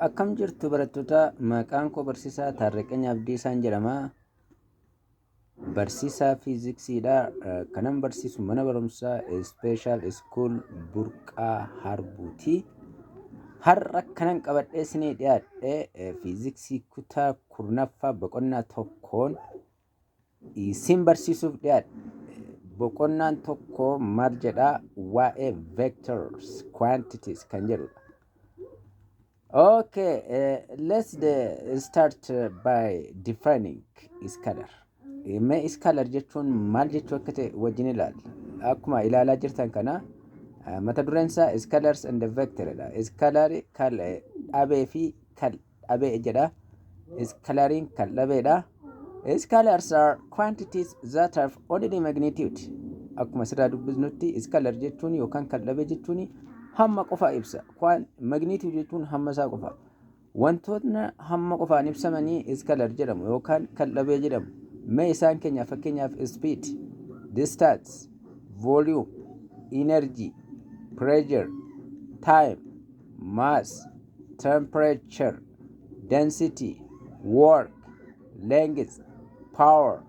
Akkam jirtu barattoota maqaan koo barsiisaa Taarraqany Abdiisaan jedhama. Barsiisaa fiiziksiidha. Kanan barsiisu mana barumsaa Ispeeshaal Iskuul Burqaa Harbuuti. Har'a kanan qabadhee isinii dhiyaadhe fiiziksii kutaa kurnaffaa boqonnaa tokkoon Isin barsiisuuf dhiyaadhe. Boqonnaan tokko maal jedha? Waa'ee vectors, quantities kan jedhudha. Okay, uh, let's uh, start uh, by defining scalar. Eh, Mee scalar jechuun maal jechuu akka ta'e wajjin ilaalla. Akkuma ilaalaa jirtan kana uh, mata dureen isaa scalars and vector dha. Scalar kal eh, dhabee fi kal dhabe jedha. Iskalariin kan dhabeedha. Iskalars are quantities that have only the magnitude. Akkuma asirraa dubbisnutti iskalar jechuun yookaan kan dhabe jechuun hamma qofa ibsa. Kwaan magnitude jechuun hamma isaa qofa. Wantootni hamma qofaan ibsamanii iskalar jedhamu yookaan kan dhabee jedhamu. Mee isaan keenya fakkeenyaaf speed, distance, volume, energy, pressure, time, mass, temperature, density, work, length, power,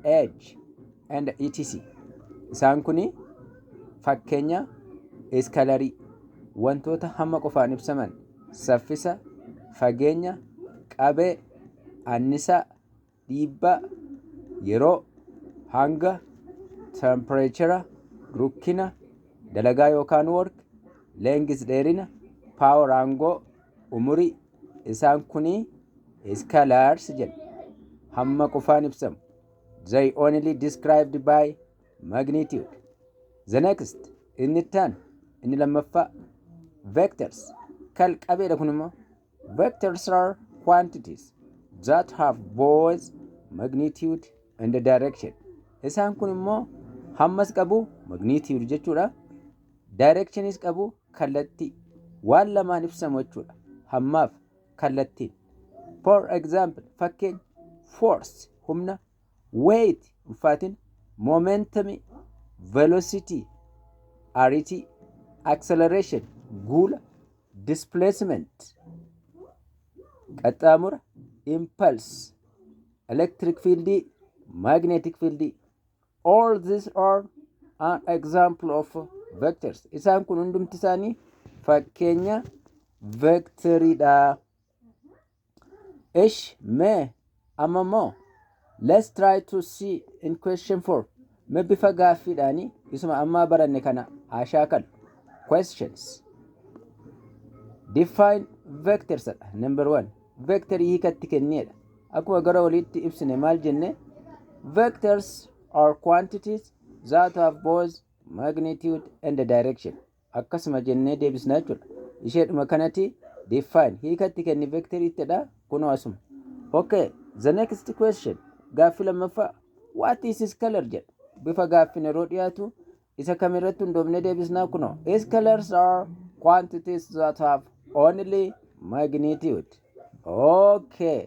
age, and etc. Isaan kun fakkeenya iskalarii wantoota hamma qofaan ibsaman saffisa, fageenya, qabee, annisaa, dhiibbaa yeroo, hanga, tempireechera, rukkina, dalagaa yookaan work, length dheerina, power aangoo, umurii, isaan kunii scalars jedhu. Hamma qofaan ibsamu. They only described by magnitude. The next, inni itti aanu, inni lammaffaa, vectors, kal qabeedha kun immoo. Vectors are quantities that have both magnitude and direction. Isaan kun immoo hammas qabu magnitude jechuudha. Directionis qabu kallattii. Waan lamaan ibsamu jechuudha. Hammaaf kallattiin. For example, fakkeenya force humna, weight ulfaatina, momentum velocity ariitii, acceleration guula, displacement qaxxaamura impulse electric field magnetic field all these are an example of vectors isaan kun hundumti isaanii fakkeenya vectoridha Ish me amma mo let's try to see in question 4 me bifa gaaffiidhaani isuma ammaa baranne kana haa shaakalu. Questions. Define vectors dha. Number 1. Vector hiikatti kenniedha. Akkuma gara oliitti ibsine maal jenne vectors are quantities that have both magnitude and direction. akkasuma jennee deebisna jechuudha. Isheedhuma kanati define hiika itti kenni vector ittidha kunoo asuma. Okay, the next question gaaffi lammaffaa what is his color jedha. Bifa gaaffin yeroo dhiyaatu isa kam irratti hundoofne deebisnaa kunoo. His colors are quantities that have only magnitude. Okay.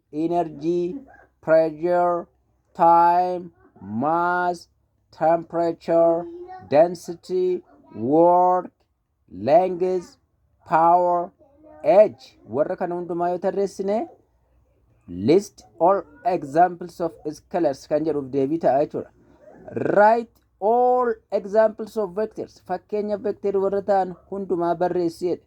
energy, pressure, time, mass, temperature, density, work, length, power, age warra kana hundumaa yoo tarreessine list all examples of scalars kan jedhuuf deebii ta'a jechuudha. Write all examples of vectors fakkeenya vector warra ta'an hundumaa barreessi jedhe.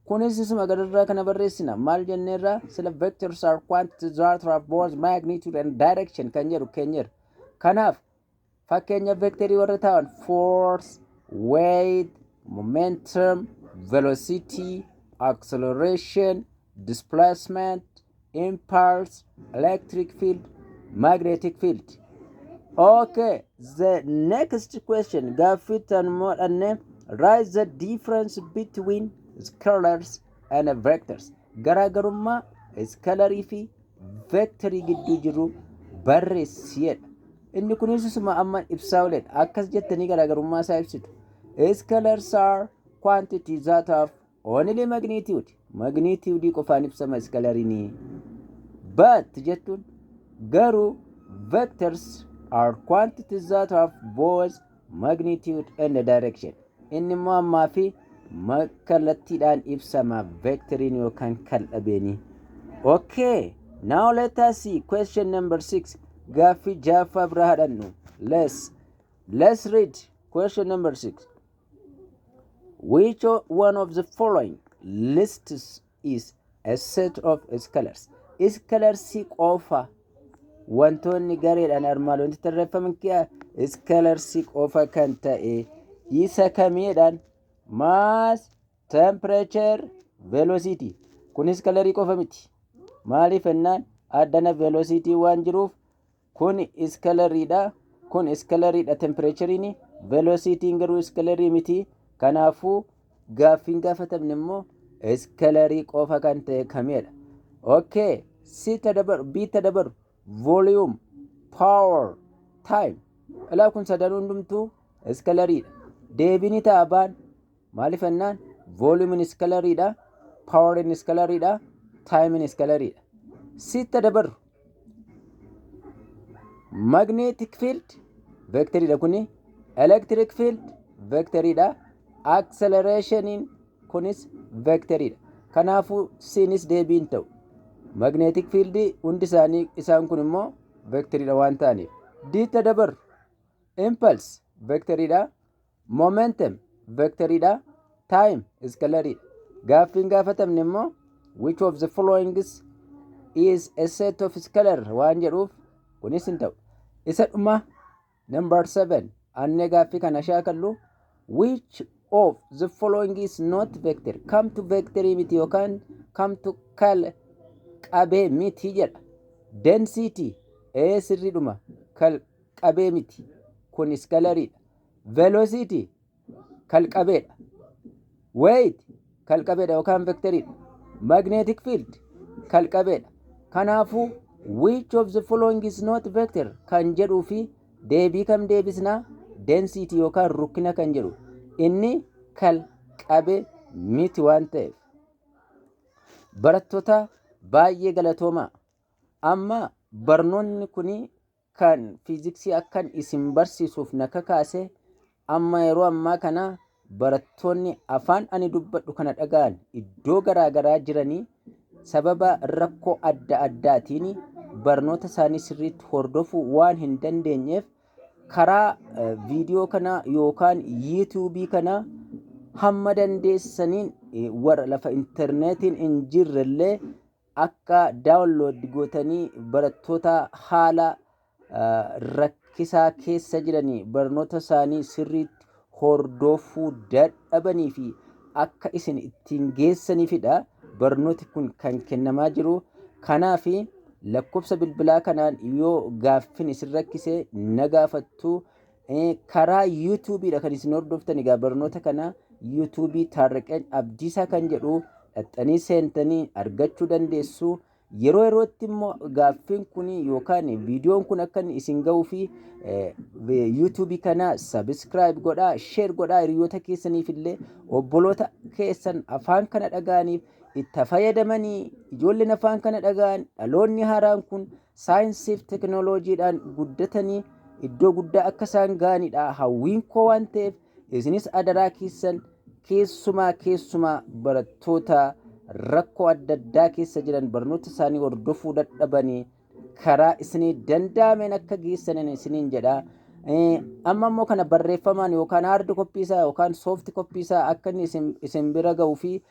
Kunis isuma gadirraa kana barreessina. Maal jenneerra? Sila vectors are quantities that have both magnitude and direction kan jedhu keenyeerra. Kanaaf fakkeenya vekterii warra ta'an force, weight, momentum, velocity, acceleration, displacement, impulse electric field magnetic field okay the next question gaaffii tan moodhanne write the difference between scalars and vectors garaagarummaa iskalarii fi vektarii gidduu jiru barreessiidha inni kunis isuma amma ibsaa oledha akkas jettanii garaagarummaa isaa ibsitu scalars are quantities that have Only magnitude. Magnitude qofaan ibsama iskalariin. But jettuun garuu vectors are quantities that have both magnitude and direction. Inni immoo ammaa fi ma- kallattiidhaan ibsama vectoriin yookaan kal'abeenii. Okay, now let us see question number six. Gaaffii jaaffaa bira haadhannu. Let's, let's read question number six. Which o- one of the following lists is a set of scalars? Scalarsii qofa wantoonni gareedhaan armaan olitti tarreeffaman kiyaa scalarsii qofa kan ta'e isa kamiidhaan mass, temperature, velocity. Kun scalarii qofa miti. Maaliif jennaan addana velocity waan jiruuf Kun iskalarii dha. Kun iskalarii dha tempireechariin. Velosiitiin garuu iskalarii miti. Kanaafuu gaaffiin gaafatamne immoo iskalarii qofa kan ta'e kamidha. Okay. C ta dabaru, B ta dabaru. Volume, power, time. Ilaa kun sadan hundumtuu iskalarii dha. Deebiin ta'a baan Maaliif jennaan volume iskalarii dha, power iskalarii dha, time iskalarii dha. Sitta dabarru. Magnetic field vectorii dha kuni. Electric field vectorii dha. Accelerationin kunis vectorii dha. Kanaafuu siinis deebiin ta'u. Magnetic field hundi isaanii isaan kun immoo vectorii dha waan ta'aniif. Diitta dabarru. Impulse vectorii dha. Momentum vector dha. Time scalar dha. Gaaffiin gaafatamne immoo which of the following is a set of scalar waan jedhuuf kunis hin ta'u. Isa dhuma number 7 annee gaaffii kana shaakallu which of the following is not vector come to vector miti yookaan come to kal qabee miti jedha. Density ee sirriidhuma kal qabee miti kun iskalaridha. velocity kalqabeedha weight kalqabeedha yookaan vectoridha magnetic field kalqabeedha kanaafuu which of the following is not vector kan jedhuu fi deebii kam deebisna density yookaan rukkina kan jedhu inni kalqabe miti waan ta'eef barattoota baay'ee galatoomaa amma barnoonni kun kan fiiziksii akkan isin barsiisuuf na kakaase amma yeroo ammaa kana barattoonni afaan ani dubbadhu kana dhaga'an iddoo garaa garaa jiranii sababa rakkoo adda addaatiin barnoota isaanii sirriitti hordofuu waan hin dandeenyeef karaa eh, viidiyoo kana yookaan yuutuubii kana hamma dandeessaniin eh, warra lafa intarneetiin hin jirrellee akka download gootanii barattoota haala rakkisaa keessa jiranii barnoota isaanii sirriitti hordoofuu dadhabanii fi akka isin ittiin geessanifidha barnooti kun kan kennamaa jiru kanaaf lakkoofsa bilbilaa kanaan yoo gaaffin isin rakkise na gaafattu Eh, karaa YouTube dha kan isin hordoftan egaa barnoota kana YouTube Taarraqeen Abdiisaa kan jedhu dhaxxanii seentanii argachuu dandeessu. Yeroo yerootti immoo gaaffiin kun yookaan viidiyoon kun akka inni isin ga'uu fi eh, vi- YouTube kana subscribe godhaa, share godhaa hiriyoota keessaniif illee obboloota keessan afaan kana dhaga'aniif itti fayyadamanii ijoolleen afaan kana dhaga'an dhaloonni haaraan kun saayinsiif teknooloojiidhaan guddatanii iddoo guddaa akka isaan ga'anidha hawwiin koo waan ta'eef isinis adaraa keessan keessumaa keessumaa barattoota rakkoo adda addaa keessa jiran barnoota isaanii hordofuu dadhabanii karaa isinii danda'ameen akka geessanin isiniin jedha. Amma immoo kana barreeffamaan yookaan haardi koppii isaa yookaan soofti koppii isaa akka inni isin bira ga'uu fi